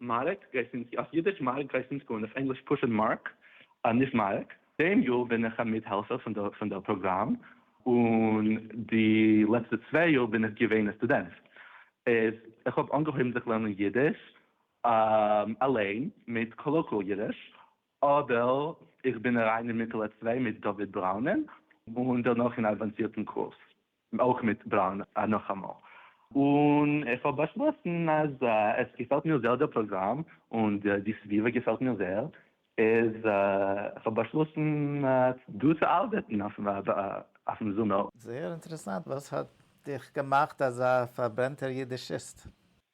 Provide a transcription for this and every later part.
מאַרק, גרייזט אונדז, אויף ייִדיש, מאַרק, גרייזט אונדז גאָרנישט, אויף ענגליש פּשוט מאַרק, נישט מאַרק. דעם יאָר בין איך אַ מיטהעלפֿער פֿון דער פּראָגראַם, און די לעצטע צוויי יאָר בין איך געווען אַ סטודענט. איז איך האָב אָנגעהויבן זיך לערנען ייִדיש אַליין מיט קאָלאָקועל ייִדיש, אָדער איך בין אַרײַן אין מיטעלע צוויי מיט דוד בראַונען, און דערנאָך אין אַדוואַנסירטן קורס. און אויך מיט בראון נאכאמאל, און איך האב באשלאסן אז עס געפעלט מיר זעהר דער פראגראם און די סביבה געפעלט מיר זעהר, איז איך האב באשלאסן דא צו ארבעטן אויפן זומער. זעהר אינטערעסאנט, וואס האט דיך געמאכט אזא פארברענטער אידישיסט?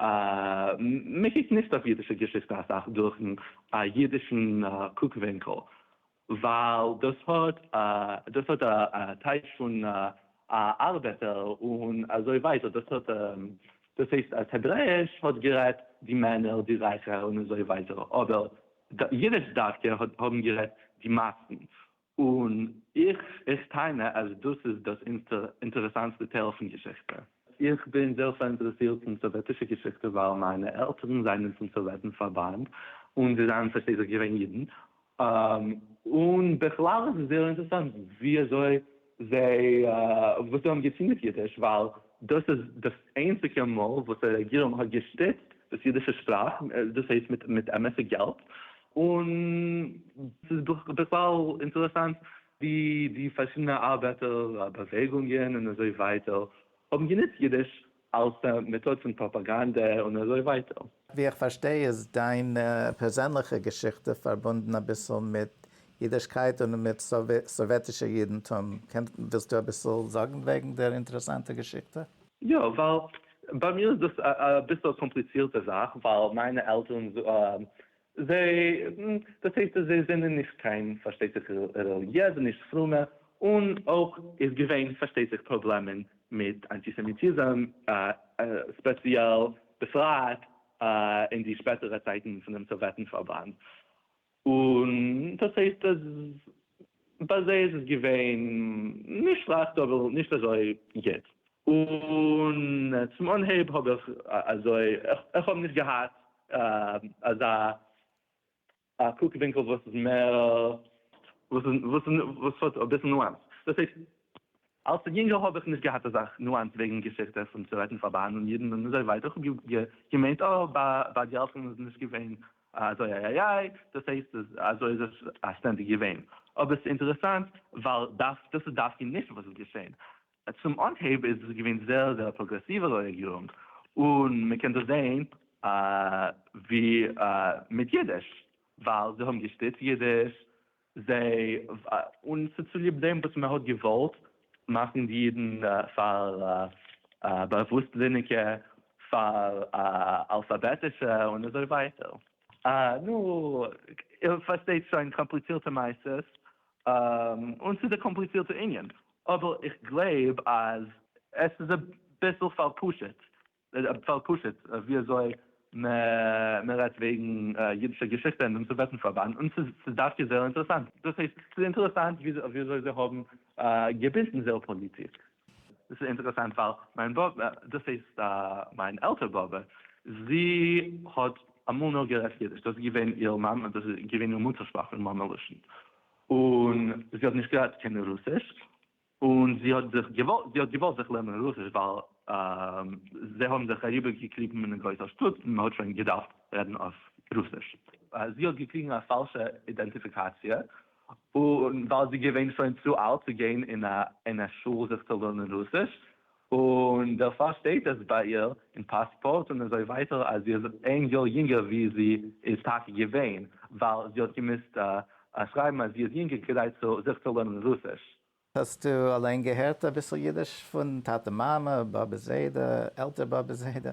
מען קוקט נישט אויף אידישע געשיכטע אסאך דורכ'ן א אידישן קוק ווינקל, ווייל דאס האט דאס האט א טייטש פון א ארבעטער און אזוי ווייטער, דאס האט דאס הייסט אז העברעאיש האט גערעדט די מענער, די רייכע און אזוי ווייטער, אבער אידיש דווקא האט האבן גערעדט די מאסן, און איך טענה אז דאס איז דאס אינטערעסאנסטע טייל פון געשיכטע. איך בין זייער פאראינטערעסירט אין סאוועטישע געשיכטע ווייל מיינע עלטערן זענען פון סאוועטן פארבאנד און זיי זענען פארשטייט זיך געווען אידן, און בכלל איז עס זייער אינטערעסאנט ווי אזוי זיי, וואס זיי האבן געטון מיט אידיש ווייל דאס איז דאס איינציגע מאל וואס די רעגירונג האט געשטיצט דאס אידישע שפראך, דאס הייסט מיט אמת'ע געלט, און ס'איז בכלל אינטערעסאנט ווי די פארשידענע ארבעטער באוועגונגען און אזוי ווייטער האבן גענוצט אידיש אלס א מעטאד פון פראפאגאנדע און אזוי ווייטער. ווי איך פארשטיי איז דיין פערזענליכע געשיכטע פארבונדן אביסל מיט אידישקייט און מיט סאוועטישע אידנטום, ווילסטו אביסל זאגן וועגן דער אינטערעסאנטע געשיכטע? יא, ווייל ביי מיר איז דאס אביסל א קאמפליצירטע זאך, ווייל מיינע עלטערן זיי, דאס הייסט אז זיי זענען נישט קיין פארשטייט זיך רעליגיעזע, נישט פרומע, און אויך איז געווען פארשטייט זיך פראבלעמען מיט אנטיסעמיטיזם ספעציעל, בפרט אין די שפעטערע צייטן פון דעם סאוועטן פארבאנד, און דאס הייסט אז ביי זיי איז עס געווען נישט שלעכט אבער נישט אזוי גוט, און צום אנהייב האב איך אזוי, איך האב נישט געהאט אזא א קוק ווינקל וואס איז מער וואס האט אביסל נואנס, דאס הייסט אלס א יונגער האב איך נישט געהאט אזא נואנס וועגן געשיכטע פון צו רעדן פאר באהן און אידן און אזוי ווייטער איך האב געמיינט אה ביי די עלטערן איז נישט געווען אזוי איי איי איי דאס הייסט אז אזוי איז עס סטענדיג געווען אבער ס'אינטערעסאנט ווייל דאס איז דווקא נישט וואס איז געשען צום אנהייב איז דאס געווען זייער זייער פראגרעסיווע רעגירונג, און מען קען דאס זעהן ווי מיט אידיש, ווייל זיי האבן געשטיצט אידיש, זיי, און ס'איז צוליב דעם וואס מען האט געוואלט מאכן די אידן פאר באוואוסטזיניגע, פאר אלפאבעטישע, און אזוי ווייטער. נו, איר פארשטייט שוין קאמפליצירטע מעשות, און ס'איז א קאמפליצירטע ענין, אבער איך גלייב אז עס איז אביסל פאר פשוט ווי אזוי מען רעדט וועגן אידישע געשיכטע אינעם סאוועטן פארבאנד, און ס'איז דווקא זייער אינטערעסאנט, דאס הייסט ס'איז אינטערעסאנט ווי אזוי זיי האבן געבינדן זייער פאליטיק. דאס איז אינטערעסאנט ווייל מיין באבע, דאס הייסט מיין עלטער באבע, זי האט אמאל נאר גערעדט אידיש, דאס איז געווען איר מאמע, דאס איז געווען איר מוטער שפראך און מאמע לשון, און זי האט נישט געדארפט קענען רוסיש, און זי האט זיך געוואלט, זי האט געוואלט זיך לערנען רוסיש ווייל זיי האבן זיך אריבער געקליבן אין א גרויסע שטאט און מען האט שוין געדארפט רעדן אויף רוסיש. זי האט געקריגן א פאלשע אידענטיפיקאציע, און און ווייל זי געווען שוין צו אלט צו גיין אין א שול זיך צו לערנען רוסיש, און דערפאר שטייט עס ביי איר אין פאספארט און אזוי ווייטער אז זי איז איין יאר יונגער ווי זי איז טאקע געווען, ווייל זי האט געמוזט שרייבן אז זי איז יונגער כדי זיך צו לערנען רוסיש. האסטו אליין געהערט אביסל אידיש פון טאטע מאמע, באבע זיידע, עלטער באבע זיידע?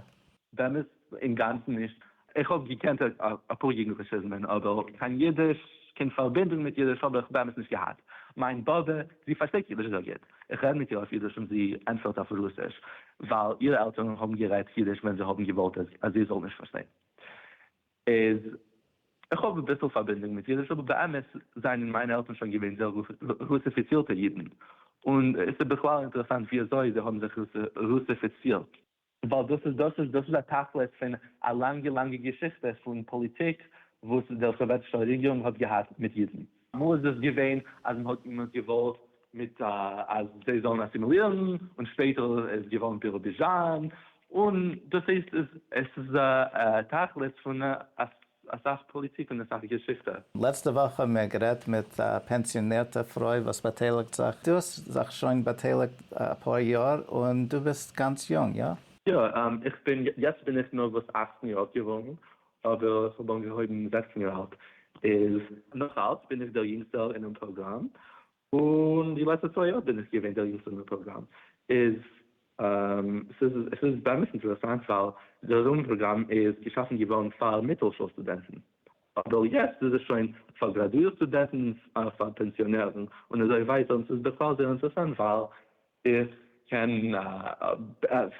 באמת אינגאנצן נישט. איך האב געקענט אפאר יוגנדליכיזמען אבער קיין אידיש, קיין פארבינדונג מיט אידיש האב איך באמת נישט געהאט. מיין באבע, זי פארשטייט אידיש זייער גוט. איך רעד מיט איר אויף אידיש און זי ענטפערט אויף רוסיש, ווייל אירע עלטערן האבן גערעדט אידיש ווען זיי האבן געוואלט אז זי זאל נישט פארשטיין. איז איך האב אביסל פארבינדונג מיט אידיש אבער באמת זענען מיינע עלטערן שוין געווען זייער רוסיפיצירטע אידן און עס איז בכלל אינטערעסאנט ווי אזוי זיי האבן זיך רוסיפיצירט, ווייל דאס איז דאס איז דאס איז א תכלית פון א לאנגע לאנגע געשיכטע פון פאליטיק וואס דער סאוועטישער רעגירונג האט געהאט מיט אידן. אמאל איז דאס געווען אז מען האט געוואלט מיט אז זיי זאלן אסימילירן, און שפעטער איז געווארן בירוביזשאן, און דאס הייסט עס איז א תכלית פון אסאך פאליטיק און אסאך געשיכטע. לעצטע וואך האבן מיר גערעדט מיט א פענסיאנירטע פרוי וואס באטייליגט זיך, דו האסט זיך שוין באטייליגט אפאר יאר און דו ביסט גאנץ יונג, איא? יא, איך בין, יעצט בין איך נארוואס אַכצן יאר געווארן, אבער איך האב אנגעהויבן זעכצן יאר אלט איז. נאך אלץ בין איך דער יונגסטער אינעם פראגראם, און די לעצטע צוויי יאר בין איך געווען דער יונגסטער אינעם פראגראם, איז עס איז באמת אינטערעסאנט ווייל דער ראם פראגראם איז געשאפן געווארן פאר מיטל שול סטודענטן, אבער יעצט איז עס שוין פאר גראדואירט סטודענטן, פאר פענסיאנערן און אזוי ווייטער, און עס איז בכלל זייער אינטערעסאנט ווייל איך קען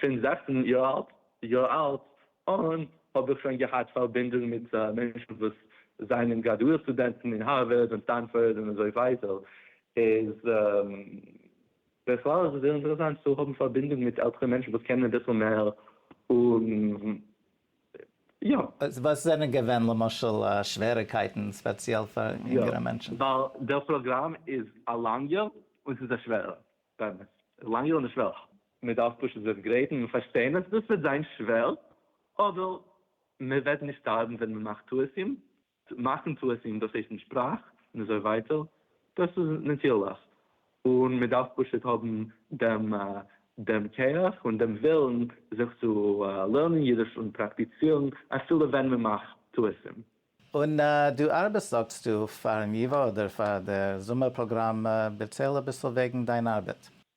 פון זעכצן יאר אלט אן האב איך שוין געהאט פארבינדונג מיט מענטשן וואס זענען גראדואירט סטודענטן אין הארווארד און סטענפארד און אזוי ווייטער, איז בכלל איז עס זייער אינטערעסאנט צו האבן פארבינדונג מיט עלטערע מענטשן וואס קענען אביסל מער און יא. וואס זענען געווען למשל שוועריקייטן ספעציעל פאר אינגערע מענטשן? יא, ווייל דער פראגראם איז א לאנגער און ס'איז א שווערער, באמת לאנגער און שווערער. מען דארף פשוט זיך גרייטן און פארשטיין אז דאס וועט זיין שווער, אבער מען וועט נישט שטארבן ווען מען מאכט טעותים, צו מאכן טעותים דאס הייסט אין שפראך און אזוי ווייטער, דאס איז נאטירליך, און מען דארף פשוט האבן דעם דעם כח און דעם ווילן זיך צו לערנען אידיש און פראקטיצירן אפילו ווען מען מאכט טעותים. און דו ארבעסט זאגסטו פארן ייווא אדער פאר דער זומער פראגראם, דערצייל אביסל וועגן דיין ארבעט.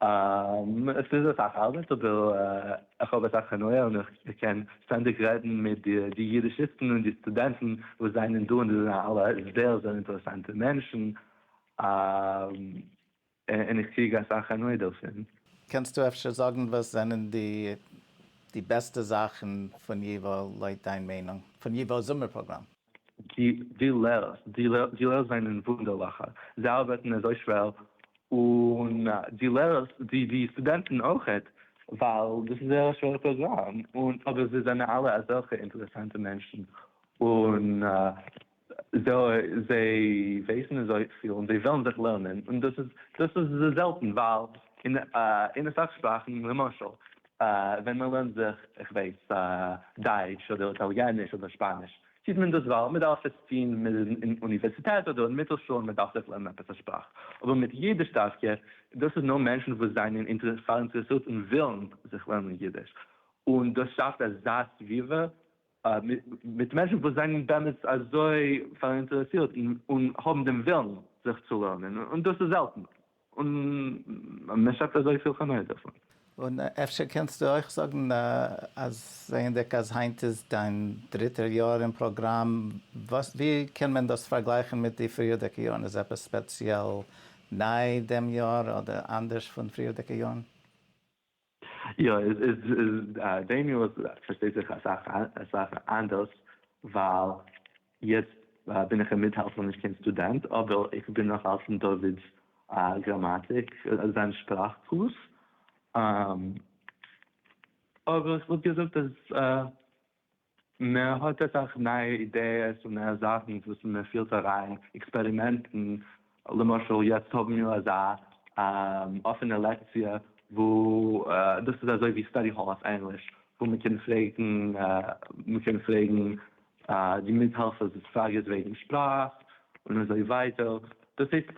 עס איז אסאך ארבעט אבער איך האב אסאך הנאה און איך קען שטענדיג רעדן מיט די די אידישיסטן און די סטודענטן וואס זענען דא און זיי זענען אלע זייער זייער אינטערעסאנטע מענטשן און איך קריג אסאך הנאה דערפון. קענסטו אפשר זאגן וואס זענען די די בעסטע זאכן פון ייווא לויט דיין מיינונג פון ייווא זומער פראגראם? די לערערס זענען וואונדערליכע, זיי ארבעטן אזוי שווער, און די לערערס, די סטודענטן אויכעט, ווייל דאס איז זייער א שווערע פראגראם, אבער זיי זענען אלע אזעלכע אינטערעסאנטע מענטשן, און זיי ווייסן אזויפיל, און זיי ווילן זיך לערנען, און דאס איז זעלטן, ווייל אין אסאך שפראכן, למשל ווען מען לערנט זיך, איך ווייס, דייטש אדער איטאליעניש אדער שפאניש, טוט מען דאס ווייל מען דארף עס טון אין אוניווערסיטעט אדער אין מיטל שול, מען דארף זיך לערנען עפעס א שפראך. אבער מיט אידיש דווקא, דאס איז נאר מענטשן וואס זענען פאראינטערעסירט און ווילן זיך לערנען אידיש, און דאס שאפט אזא סביבה מיט מענטשן וואס זענען באמת אזוי פאראינטערעסירט און האבן דעם ווילן זיך צו לערנען, און דאס איז זעלטן. און מען שעפט אזויפיל הנאה דערפון. און אפשר קענסטו אויך זאגן אז זעענדיג אז היינט איז דיין דריטער יאר אין פראגראם וואס ווי קען מען דאס פארגלייכן מיט די פריערדיגע יארן איז עפעס ספעציעל ניי דעם יאר אדער אנדערש פון פריערדיגע יארן? יא, דעי מין וואס פארשטייט זיך אסאך אנדערש, ווייל יעצט בין איך אינמיט האלט נאכנישט קיין סטודענט, אבער איך בין נאך אלץ אין דוד'ס גראמאטיק, זיין שפראך קורס, אבער איך וואלט געזאגט אז. מע האָט אסאך נייע אידעעס און נייע זאכן וואס מע פילט אריין, עקספערימענטן, למשל יעצט האבן מיר אזא אפענע לעקציע וואו דאס איז אזוי ווי סטאדי האל אויף ענגליש, וואו מע קען פרעגן מע קען פרעגן די מיטהעלפערס פראגעס וועגן שפראך און אזוי ווייטער, דאס הייסט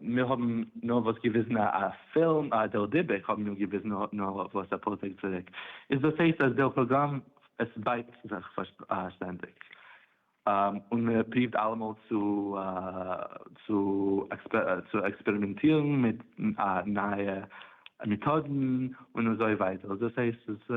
מיר האבן נאר וואס געוויזן א פילם, אה דער דיבוק האבן מיר געוויזן נאר וואס אפאר טעג צוריק, איז דאס הייסט אז דער פראגראם עס בייט זיך שטענדיג, און מען פריווט אלעמאל צו צו עקספערימענטירן מיט נייע מעטאדן און אזוי ווייטער, דאס הייסט עס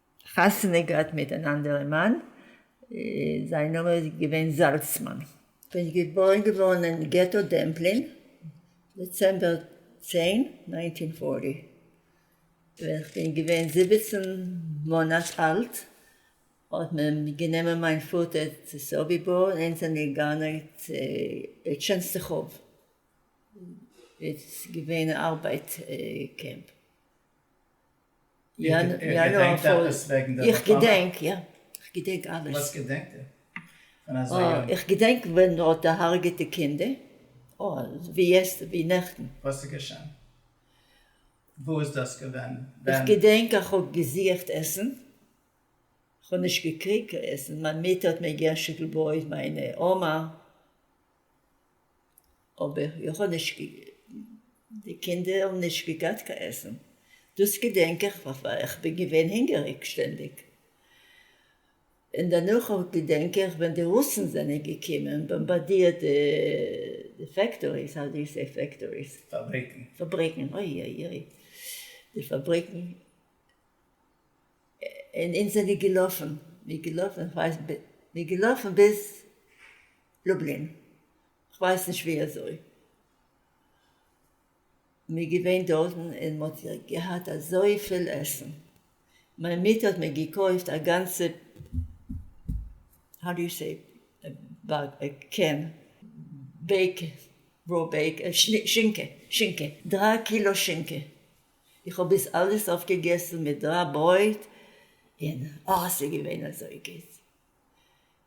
חתונה געהאט מיט אן אנדערע מאן, זיין נאמען איז געווען זאלצמאן. איז געבוירן געווארן אין געטא דעמפלין, דעצעמבער צען, נײַנצן הונדערט פֿערציק, ווען איך בין געווען זיבעצן מאנאט אלט, האט מען גענומען מיין פאטער צו סאביבאר און אונז זענען געגאנען צו טשענסטעכאוו, איז געווען א ארבייט קעמפ. איך געדענק יא, איך געדענק אלעס. איך געדענק ווען מען האט דערהארגעט די קינדער, ווי יעסטערדעי, ווי נעכטן. וואס איז געשען? וואו איז דאס געווען? איך געדענק איך האב געזוכט עסן, איך האב נישט געקריגט קיין עסן, מיין מוטער האט מיר געשיקט לויט מיין אמה. אבער איך האב נישט די קינדער האבן נישט געגאט קיין עסן דאס געדענק איך ווייל איך בין געווען הינגעריג שטענדיג און דערנאך געדענק איך ווען די רוסן זענען געקומען באמבאדירט די די פעקטאריס האו די יו סעי פעקטאריס? פאבריקן. פאבריקן אוי אוי אוי די פאבריקן און אונז זענען געלאפן מיר געלאפן איך ווייס מיר געלאפן ביז לובלין. כ'ווייס נישט ווי אזוי מ'איז געווען דארטן און מ'האט געהאט אזויפיל עסן. מיין מוטער האט מיר געקויפט א גאנצע האו דו סעי באג א קען בעיק רא בעיק שינקע שינקע דרײַ קילא שינקע איך האב עס אלעס אויפגעגעסן מיט דרײַ ברויט און אה ס'איז געווען אזוי גוט.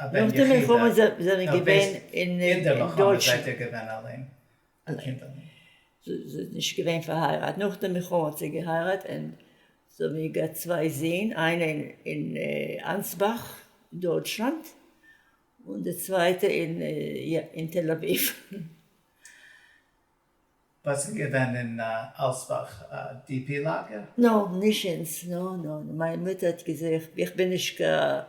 א בן יחיד א וויסט אינדערליך האבן זיי זיי געווען אלען די קינדערלעך. זי האט נישט געווען פארהייראט נאך די מלחמה האט זי געהייראט און זיי האבן איר געהאט צוויי זין איינע אין אנסבאך דויטשלאנד און די צווייטע אין תל אביב. ביסט שוין געווען אין אלסבאך די פי לאגער? נא, נישט אונז, נא נא נא, מיין מוטער האט געזוכט, איך בין נישט קיין,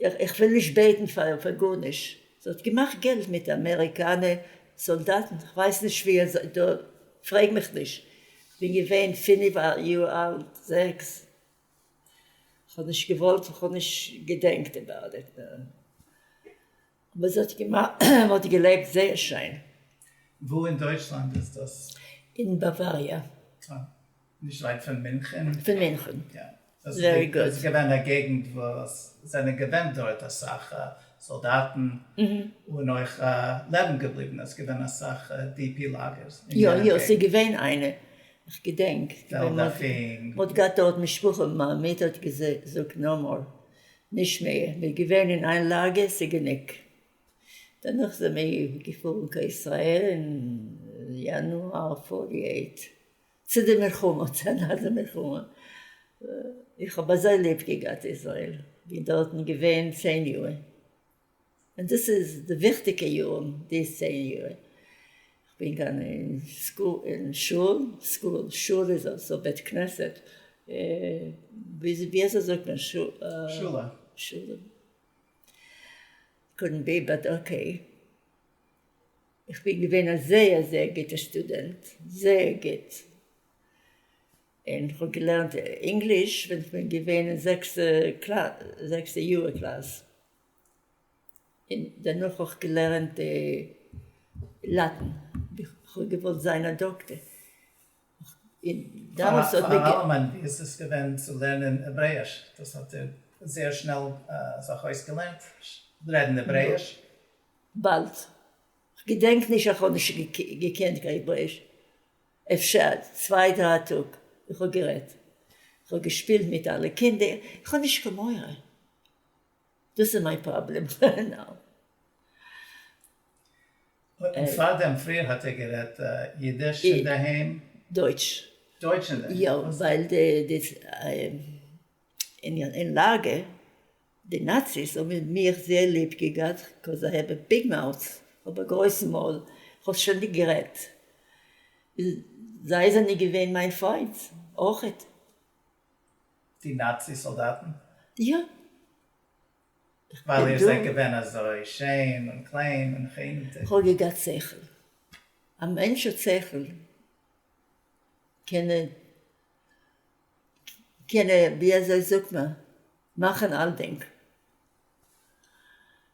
איך וויל נישט בעטן פאר גארנישט, זי האט געמאכט געלט מיט אמעריקאנע סאלדאטן, כ'ווייס נישט ווי אזוי, דא פרעג מיך נישט, כ'בין געווען פינף יאר אלט, זעקס, כ'האב נישט געוואלט, כ'האב נישט געדענקט אבאוט איט. אבער זי האט געלעבט זייער שיין. וואו אין דויטשלאנד איז דאס? אין באוואריע. אה. נישט ווייט פון מינכען? פון מינכען. יא. ווערי גוד. דאס איז געווען א געגנט וואו עס זענען געווען דארט אסאך סאלדאטן, און אויך לעבן געבליבענע, עס איז געווען אסאך די פי לאגערס. יא יא, עס איז געווען איינע, איך געדענק. מען האט געהאט דארט משפחה, מיין מוטער האט געזאגט נאו מאר. נישט מער, מ'איז געווען אין איין לאגער, ס'איז גענוג. דערנאך זעמיר געפארן קיין ישראל אין יאנואר פאריע ט, צו די מלחמה, צו אנאדער מלחמה. איך האב אזוי ליב געגאט ישראל, בין דארטן געווען צען יאר. און דאס איז די וויכטיגע יארן, די צען יאר כ'בין געווען אין סקול, אין שול, סקול, שול איז אלזא בית כנסת, ווי אזוי זאגט מען שולע? שולע. קודנט בי באט אקעי. איך בין געווען א זייער זייער גוטע שטודענט, זייער גוט, און כ'האב געלערנט ענגליש ווען כ'בין געווען אין זעקסטע קלאס, זעקסטע יאר קלאס. און דערנאך האב איך געלערנט לאטן, כ'האב געוואלט זיין א דאקטער. פאר אן אלעמען, ווי איז עס געווען צו לערנען העברעיש? דאס האט איר זייער שנעל זיך אויסגעלערנט, רעדן העברעיש? באלד. כ'געדענק נישט אז כ'האב נישט געקענט קיין העברעיש. אפשר צוויי דריי טאג. איך האב גערעדט. כ'האב געשפילט מיט אלע קינדער. כ'האב נישט קיין מורא. דאס איז מיין פראבלעם נאו. און פארדעם פריער האט ער גערעדט אידיש אינדערהיים? דויטש. דויטש אינדערהיים. יא, ווייל די אין לאגע, די נאציס האבן מיך זייער ליב געגאט, קאוז איי העוו א ביג מאוט, כ'האב א גרויס מויל, כ'האב שטענדיג גערעדט, זיי זענען געווען מיין פיינט אויכעט. די נאצי סאלדאטן? יא. ווייל איר זענט געווען אזוי שיין און קליין און חינם. כ'האב געגאט שכל. א מענטש האט שכל קען ער קען ער ווי אזוי זאגט מען מאכן אלדינג.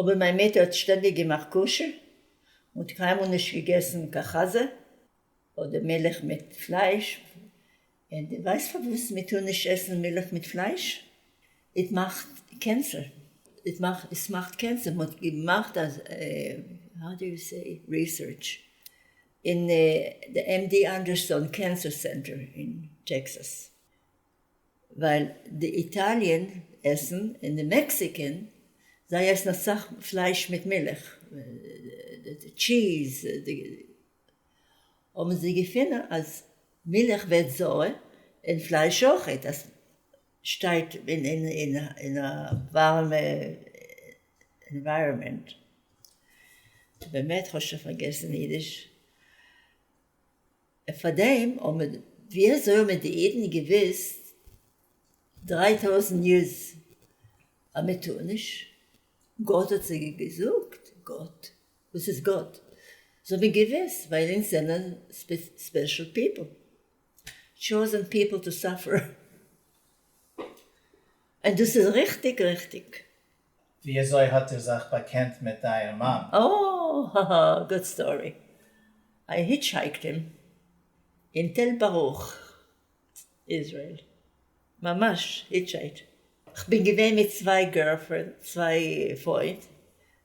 אבער מיין מוטער האט שטענדיג געמאכט כשר, און האט קיינמאל נישט געגעסן קיין חזה, אדער מילך מיט פלייש, און די ווייסט פארוואס מען טאר נישט עסן מילך מיט פלייש? איט מאכט קענסער, איט מאכט, עס מאכט קענסער, מען האט געמאכט אז האו די יו סעי, ריסערטש, אין די עם די אנדערסאן קענסער סענטער אין טעקסאס. ווייל די איטאליען עסן און די מעקסיקען זיי עסן אסאך פלייש מיט מילך טשיז האבן זיי געפונען אז מילך ווערט זויער און פלייש אויכעט אז שטייט אין א ווארעמע ענווייראמענט באמת כ'האב שוין פארגעסן אידיש. און פארדעם האבן מיר, ווי אזוי האבן מיר די אידן געוויסט דריי טויזנט יערס אז מען טאר נישט? גאט האט זיי געזאגט, גאט? וואס איז גאט? זיי האבן געוויסט ווייל אונז זענען ספעשל פיפל, טשאזען פיפל טו סאפער, און דאס איז ריכטיג ריכטיג ווי אזוי האט איר זיך באקענט מיט אייער מאן? אאאא האהא גוד סטארי, איי היטשהייקט אים אין תל ברוך איזרעיל, ממש היטשהייט. כ'בין געווען מיט צוויי גערלפרענד צוויי פרוינד,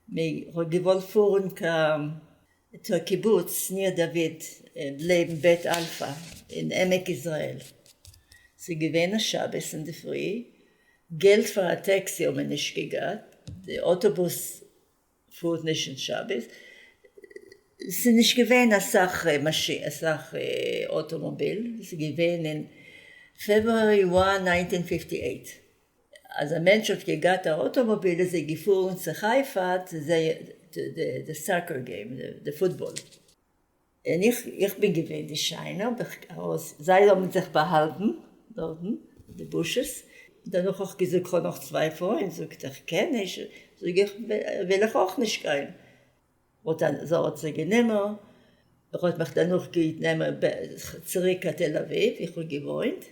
מיר האט געוואלט פארן קיין תוא קיבוץ ניר דוד ב ל אין בית אלפא אין עמק יזרעאל, ס'איז געווען א שבת אינדערפרי, געלט פאר א טעקסי האט מען נישט געגאט, די אוטובוס פארט נישט אין שבת, ס'איז נישט געווען אסאך אוטאמאביל, ס'איז געווען אין פעברואר נײַנצן הונדערט פֿופֿטי אַכט. אז א מענטש האט געגאט א אוטאמאביל איז ער געפארן צו חיפה צו זעהן די סאקער געים די פוטבאל. און איך איך בין געווען די שיינע האב איך ארויס זיי האבן זיך באהאלטן דארטן די בושות דערנאך האב איך געזאגט כ'האב נאך צוויי פרויען זאגט ער כ'קען נישט זאג איך וויל איך אויך נישט גיין. וואלט א זארט זיי גענומען, ער האט מיך דערנאך געוט נעמען צוריק קיין תל אביב ווי איך האב געוואוינט,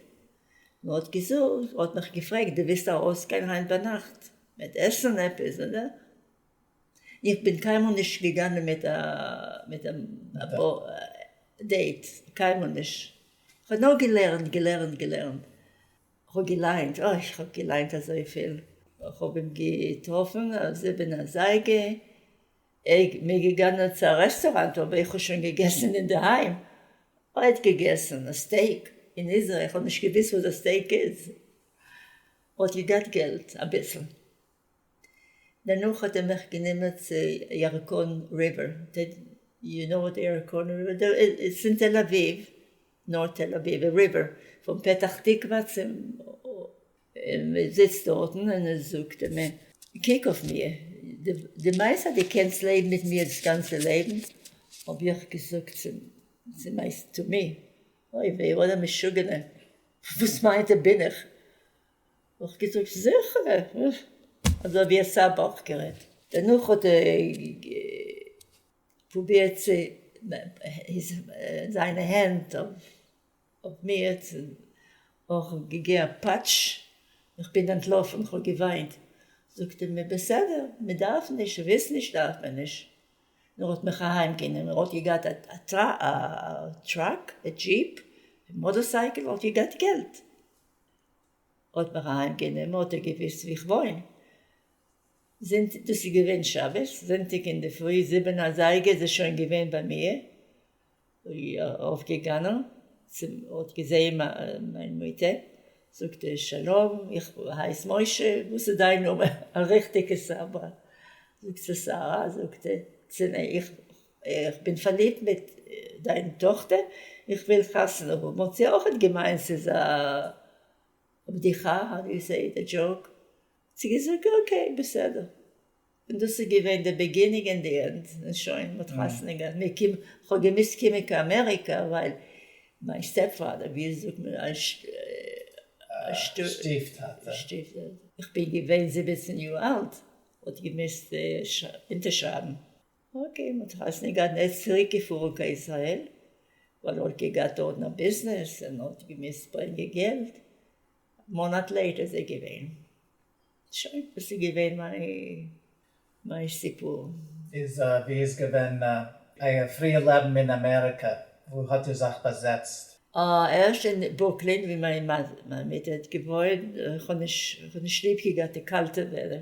און האט געזאגט, האט מיך געפרעגט די ווילסט ארויס גיין היינט ביינאכט מיט עסן עפעס אדער, איך בין קיינמאל נישט געגאנגען מיט א מיט א דעיט, קיינמאל נישט, איך האב נאר געלערנט געלערנט געלערנט. כ'האב געליינט, אוי כ'האב געליינט אזויפיל. כ'האב אים געטראפן אויף זיבן אזייגער, ער מיר געגאנען צו א רעסטוראנט אבער איך האב שוין געגעסן אינדערהיים, ער האט געגעסן א סטעיק אין איזרעיל, כ'האב נישט געוויסט וואס א סטעיק איז, ער האט געגאט געלט אביסל. דערנאך האט ער מיך גענומען צו ירקון ריווער, יו נאו וואט ירקון ריווער איז? פון תל אביב, נאר תל אביב, א ריווער, פון פתח תקווה צום, און מען זיצט דארטן און ער זאגט אים מען קוק אויף מיר, דו מיינסט אז דו קענסט לעבן מיט מיר דאס גאנצע לעבן? האב איך געזאגט צו צו מיין תו מ, אוי וועי וואט א משוגענער, וואס מיינט ער בין איך? האט געזאגט זיכער אזוי ווי עס איז אוועקגערעדט. דערנאך האט ער פרובירט צו זיינע הענט אויף מיר צו אויך געגעבן א פאטש, איך בין אנטלאפן איך האב געוויינט, זאגט ער מיר בסדר מען דארף נישט ווילסט נישט דארף מען נישט, און ער האט מיך אהיים גענומען, ער האט געגעהאט א טראק, א דזשיפ, א מאטארסייקל, ער האט געגעהאט געלט. ער האט מיך אהיים גענומען האט ער געוויסט ווי איך וואוין, זונטאג דאס איז געווען שבת, זונטאג אינדערפרי זיבן אזייגער איז ער שוין געווען ביי מיר, ארויף געגאנען צום האט געזעהן מיין מוטער, זאגט ער שלום איך הייס משה, וואס איז דיין נאמען א ריכטיגע סברא, זאגט זי שרה, זאגט ער צו מיר איך איך בין פארליבט מיט דיין טאכטער, איך וויל חתונה האבן, האט זי אויכעט געמיינט ס'איז א בדיחה, האו דו סעי איט, א דזשאוק, האט זי געזאגט אקעי בסדר, און דאס איז געווען די בעגינינג און די ענד, און שוין, מען האט חתונה געהאט, מיר קומען, כ'האב געמוזט קומען קיין אמעריקא ווייל מיין סטעפ פאדער, ווי זאגט מען, א שטיף טאטע, איך בין געווען זיבעצן יאר אלט, האט געמוזט אונטערשרייבן, אקעי, מ'האט חתונה געהאט און ער איז צוריק געפארן קיין ישראל, ווייל ער האט געגעהאט דארטן א ביזנעס און האט געמוזט ברענגען געלט, א מאנאט לעיטער איז ער געווען. שוין, דאס איז געווען מיין מיין סיפור. איז ווי איז געווען אייער פריער לעבן אין אמעריקע? וואו האט איר זיך באזעצט? אה, ערשט אין ברוקלין ווי מיין מוטער האט געוואוינט, איך האב נישט ליב געהאט די קאלטע וועדער,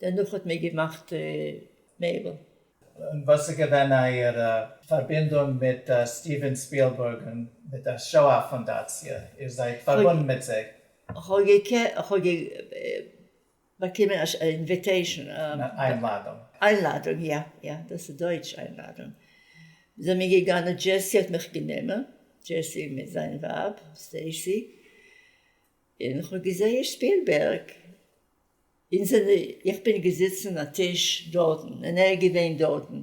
דערנאך האט מען געמאכט מעבל. און וואס איז געווען אייער פארבינדונג מיט סטיווען ספילבורג און מיט דער שואה פונדאציע? איר זייט פארבונדן מיט זיי? כ'האב באקומען א אינוויטעישן. איינלאדונג. איינלאדונג, יא יא, דאס איז דויטש איינלאדונג. זעמיר געגאנען, דזשעסי האט מיך גענומען, דזשעסי מיט זיין ווייב סטעיסי. און כ'האב געזעהן שפילבערג, אונז זענען, איך בין געזיצן א טיש דארטן און ער איז געווען דארטן,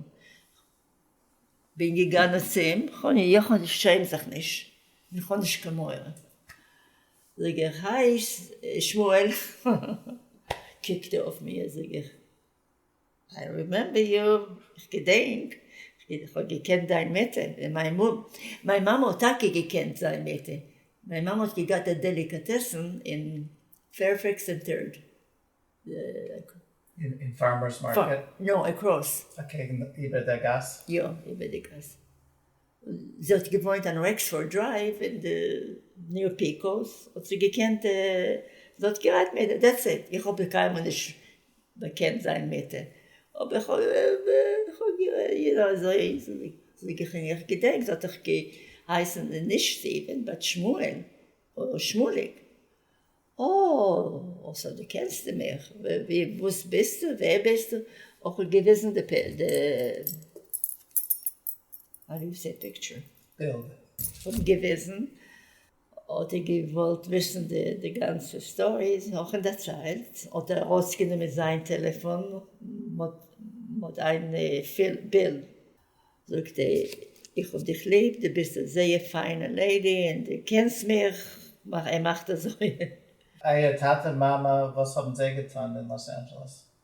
כ'בין געגאנען צו אים, איך שעם זיך נישט און כ'האב נישט קיין מורא, זאג איך, היי שמואל, קוקט ער אויף מיר, זאג איך, איי רימעמבער יו, איך געדענק, איך האב געקענט דיין מעטער, און מיין מאמע, מיין מאמע האט טאקע געקענט זיין מעטער, מיין מאמע האט געגאט א דעליקאטעסן אין פערפעקס און טערד. אין פארמערס מארקעט? נאו, עקראס. אקעגן, איבער דער גאס? יא, איבער די גאס. זי האט געוואוינט אין רעק שאור דרייוו אין די ניו יארק פעיקאוס האט זי געקענט זי האט גערעדט מיט דעטס איט איך האב קיינמאל נישט באקענט זיין מיט אבער איך האב איר אזוי איך געדענק זי האט דאך געהייסן נישט סטיווען באט שמואל אדער שמואליק אה סאו דו קענסט מיך וואס ביסטו ווער ביסטו איך האב געוויזן די א ריזע פיקטשער בילד פון געוועזן האט ער געוואלט וויסן די גאנצע סטארי נאכן דערציילט האט ער ארויס גענומען זיין טעלעפאן מוט איין בילד זאגט ער איך האב דיך ליב די ביסט א זייער פיינע לעידי אין די קענסט מיך ער מאכט אזוי. אייער טאטע מאמע וואס האבן זיי געטון אין לאס אנדזשעלעס?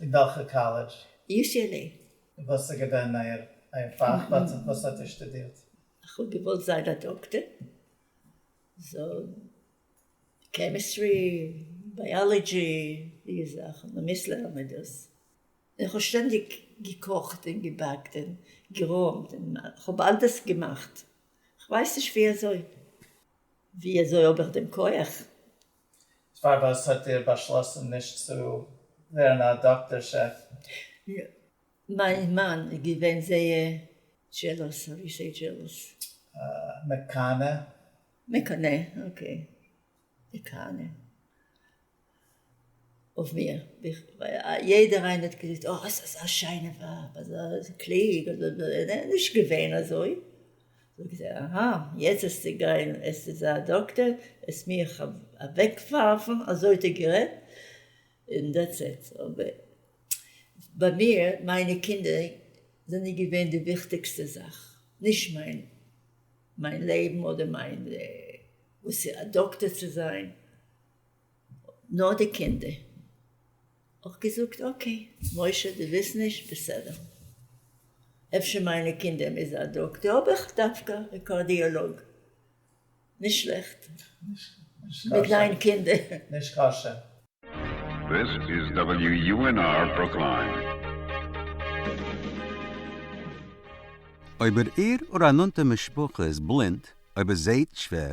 אין וועלכע קאלעדזש? UCLA. און וואס איז געווען אייער אייער פאך? וואס האט איר שטודירט? איך האב געוואלט זיין א דאקטער, סאו קעמיסטרי, בייאלעדזשי, די זאכן, מען מוז לערנען דאס. און איך האב שטענדיג געקאכט און געבאקט און גערוימט און איך האב אלדעס געמאכט, כ'ווייס נישט ווי אזוי, ווי אזוי האב איך דעם כח? פארוואס האט איר באשלאסן נישט צו ווערן א דאקטאר שעף? מיין מאן איז געווען זייער זשעלאס, האו יו סעי זשעלאס? מקנא. מקנא, אקעי. מקנא. אויף מיר. ווייל יעדער איינער האט געזאגט, אה, זי איז אזא שיינע ווייב, אזא קלוג, אזא דא. נישט געווען אזוי. זאגט זי אהא יעצט האסטו גיין עס איז א דאקטער וועסט מיך אוועקווארפן אזוי האט ער גערעדט און דעטס איט אבער ביי מיר מיינע קינדער זענען געווען די וויכטיגסטע זאך נישט מיין מיין לעבן אדער מיין וואס א דאקטער צו זיין. נאר די קינדער. אויך געזאגט אקעי משה דו ווילסט נישט בסדר. אפשר מיינע קינדער מוז א דאקטער האב איך דווקא א קארדיאלאג. נישט שלעכט מיט ניין קינדער. נישט קשה. This is WUNR Brookline. אויב איר איר אור א נאנטע משפחה איז בלינד, אויב ער זעהט שווער,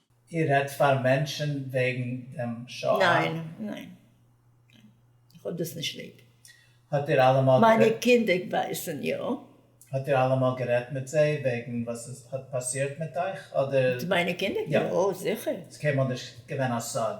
איר רעדט פאר מענטשען וועגן דעם שואה? ניין, ניין, ניין. איך האב דאס נישט ליב. האט איר אלעמאל גערעדט? מיינע קינדער ווייסען יא. האט איר אלעמאל גערעדט מיט זיי וועגן וואס עס האט פאסירט מיט אייך אדער? מיט מיינע קינדער? יא זיכער. ס'איז קיינמאל נישט געווען א סוד?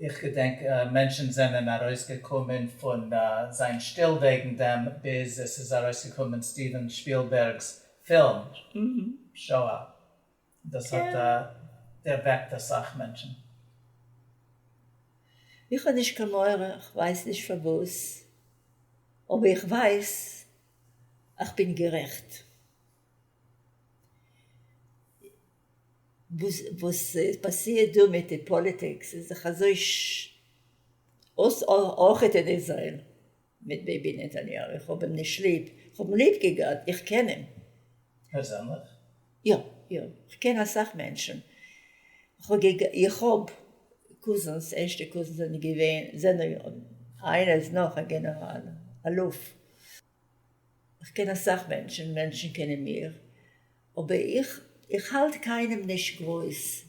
איך געדענק מענטשן זענען ארויס געקומען פון זיין שטיל וועגן דעם ביז עס איז ארויס געקומען סטיווען שפילבערג'ס פילם שואה און דאס האט דערוועקט אסאך מענטשן. איך האב נישט קיין מורא, כ'ווייס נישט פארוואס, אבער איך ווייס אז כ'בין גערעכט. וואס פאסירט דא מיט די פאליטיקס איז דאך אזוי אויס אויכעט אין איזרעיל מיט ביבי נתניהו, איך האב אים נישט ליב, איך האב אים ליב געגאט, איך קען אים. פערזענליך? יא יא, איך קען אסאך מענטשן, איך האב קוזינס, ערשטע קוזינס זענען געווען, זענען, איינער איז נאך א גענעראל, אלוף. איך קען אסאך מענטשן, מענטשן קענען מיר, אבער איך איך האלט קיינעם נישט גרויס.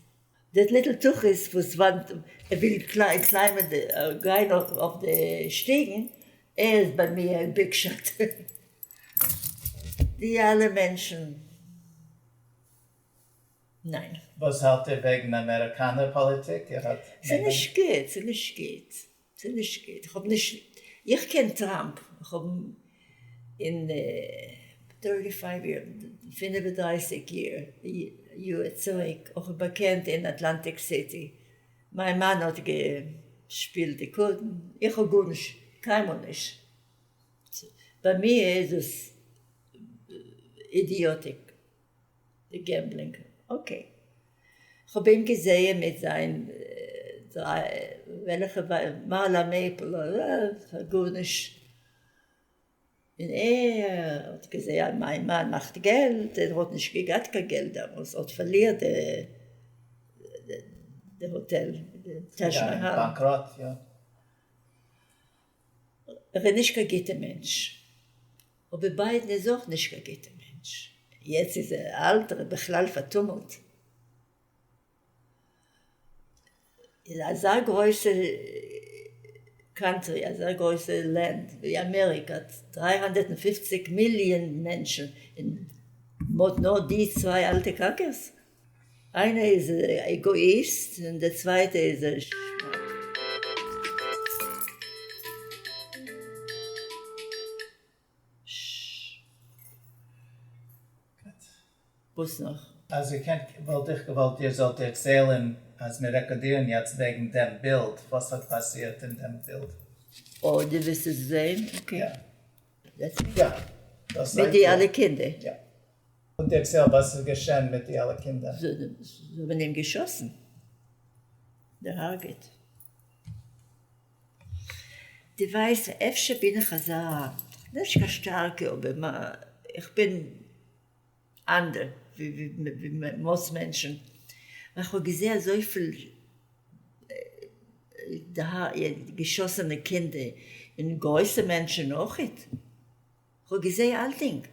דער ליטל תחית וואס וואנט ער וויל קליימען די גיין אויף די שטיגן ער איז ביי מיר א ביג שאט. די אלע מענטשן ניין. וואס האלט איר וועגן אמעריקאנער פאליטיק? ער האט מעגליך. ס'נישט גוט, ס'נישט גוט. ס'איז נישט גוט, איך האב נישט, איך קען טראמפ, איך האב אים אין טערטי פייוו יער, פֿינף און דרײַסיק יער, יאר צוריק, איך האב באקענט אין אטלאנטיק סיטי, מיין מאן האט געשפילט די קארטן, איך האב גארנישט, קיינמאל נישט, ביי מיר איז עס אידיאטיק. די געמבלינג אקעי. כ'האב אים געזעהן מיט זיין וועלעכע מעלה מעפל אדער גארנישט און ער האט געזעהן מיין מאן מאכט געלט ער האט נישט געגאט קיין געלט דעמאלס האט פארלירט די די האטעל די טאזש מאהאל. ער איז נישט קיין גוטע מענטש, אבער ביידן איז אויך נישט קיין גוטע מענטש, יעצט איז ער אלט, ער איז בכלל פארטומלט, אין אזא גרויסע קאנטרי, אזא גרויסע לענד ווי אמעריקא, דרײַ הונדערט און פֿופֿציק מיליאן מענטשן, און מ'האט נאר די צוויי אלטע קאקערס, איינע איז עגאאיסט און די צווייטע איז א שמאלץ. וואס נאך? אז איר קענט וואלט איך געוואלט איר זאלט דערציילען אז מיר רעקאדירן יעצט וועגן דעם בילד וואס האט פאסירט אין דעם בילד. אוי די ווילסט עס זעהן? אקעי. יא. יא. מיט די אלע קינדער? יא. און דערצייל וואס איז געשען מיט די אלע קינדער. זיי האבן אים געשאסן, דערהארגעט. די ווייסט אפשר בין איך אזא, נישט קיין שטארקע אבער איך בין אנדער ווי מאס מענטשן, ווייל איך האב געזעהן אזויפיל געשאסענע קינדער און גרויסע מענטשן אויכעט. כ'האב געזעהן אלטינג.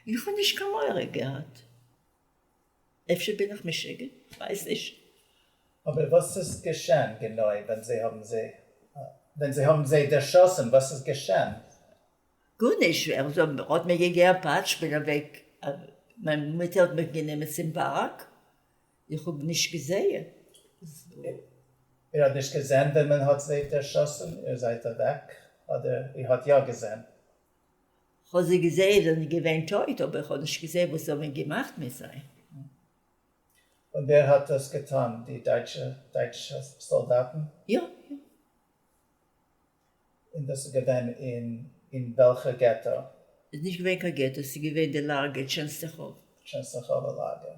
איך האב נישט קיין מורא געהאט. אפשר בין איך משוגע? כ'ווייס נישט. אבער וואס איז געשען גענוי ווען זיי האבן זיי ווען זיי האבן זיי דערשאסן? וואס איז געשען? גארנישט. ער האט מיר געגעבן א פאטש. כ'בין אוועק. מיין מוטער האט מיך גענומען צום פארק. איך האב נישט געזעהן. איר האט נישט געזען ווען מען האט זיי דערשאסן? איר זייט אוועק אדער איר האט יא געזען? כ'האב זיי געזעהן, זיי זענען געווען טויט, אבער כ'האב נישט געזעהן וואס זיי האבן געמאכט מיט זיי. און ווער האט דאס געטאן? די דייטשע דייטשע סאלדאטן? יא, יא. און דאס איז געווען אין אין וועלכע געטא? ס'איז נישט געווען קיין געטא, ס'איז געווען די לאגער טשענסטעכאווע. טשענסטעכאווע לאגער.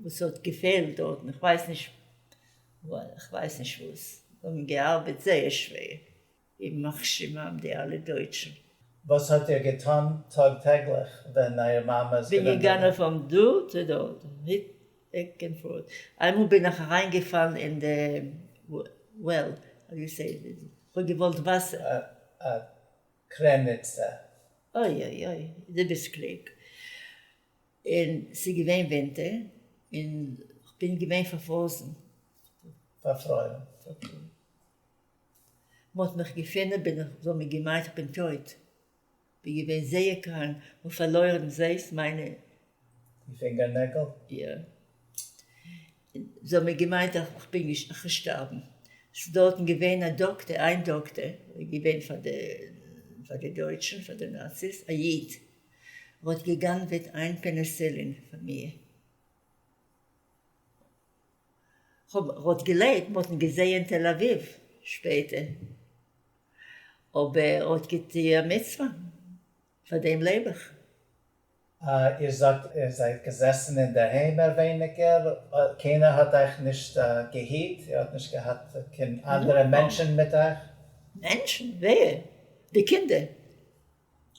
וואס האט געפעלט דארטן, איך ווייס נישט איך ווייס נישט וואס, זיי האבן געארבעט זייער שווער אין מכשירם די אלע דויטשן. וואס האט איר געטון טאג טעגליך ווען אייער מאמע איז געווען דארט? כ'בין געגאנען פון דא צו דארט, בעק ענד פארט, איינמאל בין איך אריין געפאלן אין די וועל, כ'האב געוואלט וואסער. א קרעניצע. אוי אוי אוי, דו ביסט קלוג. און ס'איז געווען ווינטער, און כ'בין געווען פארפרויזן. פארפרוירן. פארפרוירן. מ'האט מיך געפונען בין איך, זיי האבן געמיינט כ'בין טויט. כ'בין געווען זייער קראנק, כ'האב פארלוירן זעסט מיינע. די פינגערנעגל? יא. זיי האבן געמיינט אז כ'בין געשטארבן. ס'איז דארטן געווען א דאקטער, איין דאקטער, געווען פאר די דויטשן, פאר די נאציס, א איד. ער האט גע'גנב'עט איין פעניסילין פון מיר. כ'האב האט געלעבט, מ'האט אים געזעהן תל אביב שפעטער, אבער ער האט געטוה א מצוה, פאר דעם לעב איך. איר זאגט איר זייט געזעסן אינדערהיים מער ווייניגער, קיינער האט אייך נישט געהיט? איר האט נישט געהאט קיין אנדערע מענטשן מיט אייך? מענטשן? ווער? די קינדער?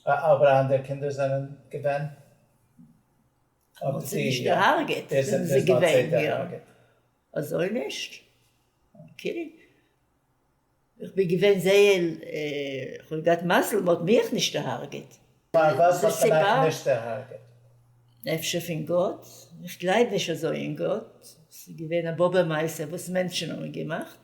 אבער אנדערע קינדער זענען געווען? האבן זיי נישט געהארגעט זענען זיי געווען יא. אזוי נישט? אקעי. איך בין געווען זייער איך האב געהאט מזל מען האט מיך נישט דערהארגעט. פארוואס האט מען אייך נישט דערהארגעט? אפשר פון גאט? איך גלייב נישט אזוי אין גאט, ס'איז געווען א באבע מעשה וואס מענטשן האבן געמאכט.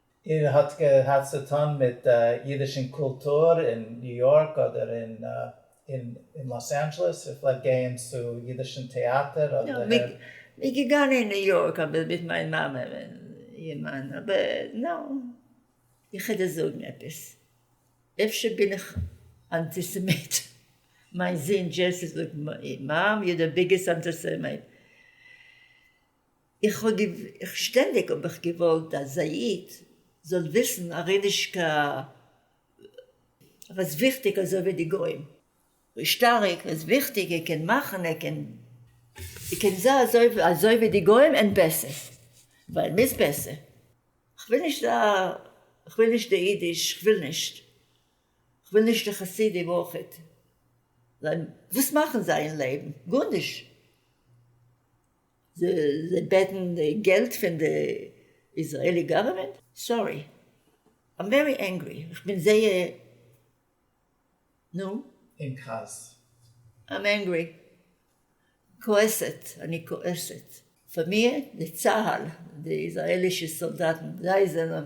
איר האט געהאט צו טון מיט אידישן קולטור אין ניו יארק אדער אין לאס אנדזשעלעס? איר פלעגט גייען צו אידישן טעאטער אדער הערן? מיר געגאנגען אין ניו יארק אבער מיט מיין מאמע ווען איר מאן אבער נאו. איך וועל דיר זאגן עפעס, אפשר בין איך אנטיסעמיט, מיין זון דזשעסי זאגט מאם יור דע ביגעסט אנטיסעמיט. איך האב געוו. שטענדיג האב איך געוואלט אז א איד זאל וויסן אראבישקע וואס וויכטיג אזוי ווי די גוים. וואס שטארק, וואס וויכטיג, ער קען מאכן, ער קען. ער קען זיי אזוי אזוי ווי די גוים און בעסער, ווייל מ'איז בעסער. כ'וויל נישט א. כ'וויל נישט די אידיש, כ'וויל נישט. כ'וויל נישט די חסידים אויכעט. ווייל וואס מאכן זיי אין לעבן? גארנישט. זיי בעטן געלט פון די איזרעלי גאווערמענט? סארי איים ווערי ענגרי, איך בין זייער נו? אין כעס. איים ענגרי, כועסת, אני כועסת. פאר מיר די צהל די איזרעלישע סאלדאטן זיי זענען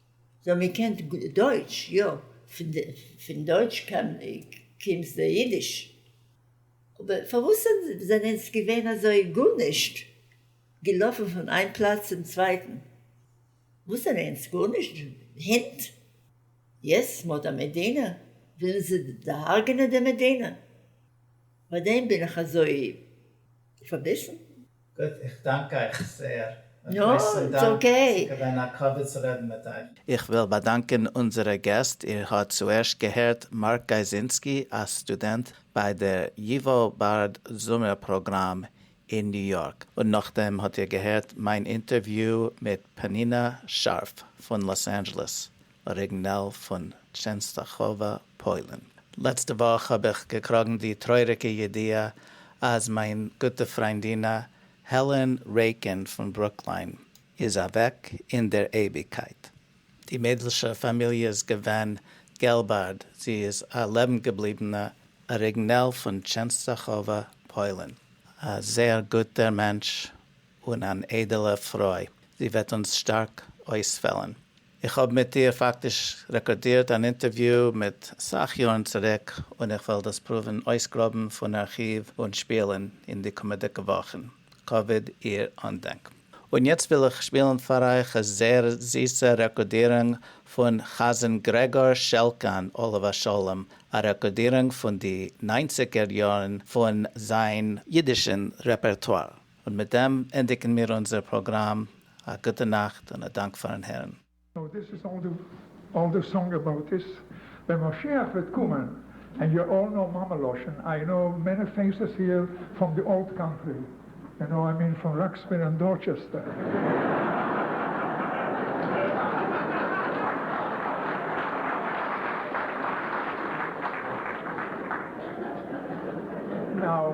זאל מען קען דויטש יא, פון דויטש קומט די אידיש, אבער פארוואס זענען אונז געווען אזוי גארנישט, געלאפן פון איין פלאץ צום צווייטן, וואס זענען אונז גארנישט, הינט? יעצט מען האט א מדינה ווילן זיי דערהארגענען די מדינה, פארדעם בין איך אזוי פארביסן? גוט, איך דאנק אייך זעהר. א גרויסן דאנק, ס'איז געווען א כבוד צו רעדן מיט אייך. איך וויל באדאנקען אונזערע געסט, איר האט צוערשט געהערט מארק גייזינסקי, א סטודענט ביי דער ייווא בארד זומער פראגראם אין ניו יארק, און נאכדעם האט איר געהערט מיין אינטערוויו מיט פנינה שארף פון לאס אנדזשעלעס, אריגנעל פון טשענסטאכאווא פוילן. לעצטע וואך האב איך געקראגן די טרויעריגע ידיעה אז מיין גוטע פריינדינע העלען רעיקין פון ברוקליין איז אוועק אין דער אייביגקייט. די מיידלשע פאמיליע איז געווען געלבארד, זי איז א לעבנגעבליבענע אריגנעל פון טשענסטאכאווא פוילן. א זייער גוטער מענטש און אן איידעלע פרוי, זי וועט אונז שטארק אויספעלן. איך האב מיט איר פאקטיש רעקארדירט אן אינטערוויו מיט אסאך יארן צוריק און איך וועל דאס פרואווען אויסגראבן פון ארכיוו און שפילן אין די קומעדיגע וואכן כבוד איר אנדענק. און יעצט וויל איך שפילן פאר אייך א זייער זיסע רעקארדירונג פון חזן גרעגאר שעלקאן עליו השלום, א רעקארדירונג פון די ניינציגער יארן פון זיין אידישן רעפערטואר. און מיט דעם ענדיגן מיר אונזער פראגראם, א גוטע נאכט און א דאנק פארן הערן. נאו דיס איז אל דו אל דו סאנג אבאוט דיס, ווען משיח וועט קומען, ענד יו אל נאו מאמע לשון, איי נאו מעני פעיסעס היער פראם די אולד קאנטרי, יו נאו איי מין פון ראקסוויל ענד דארטשעסטער. נאו.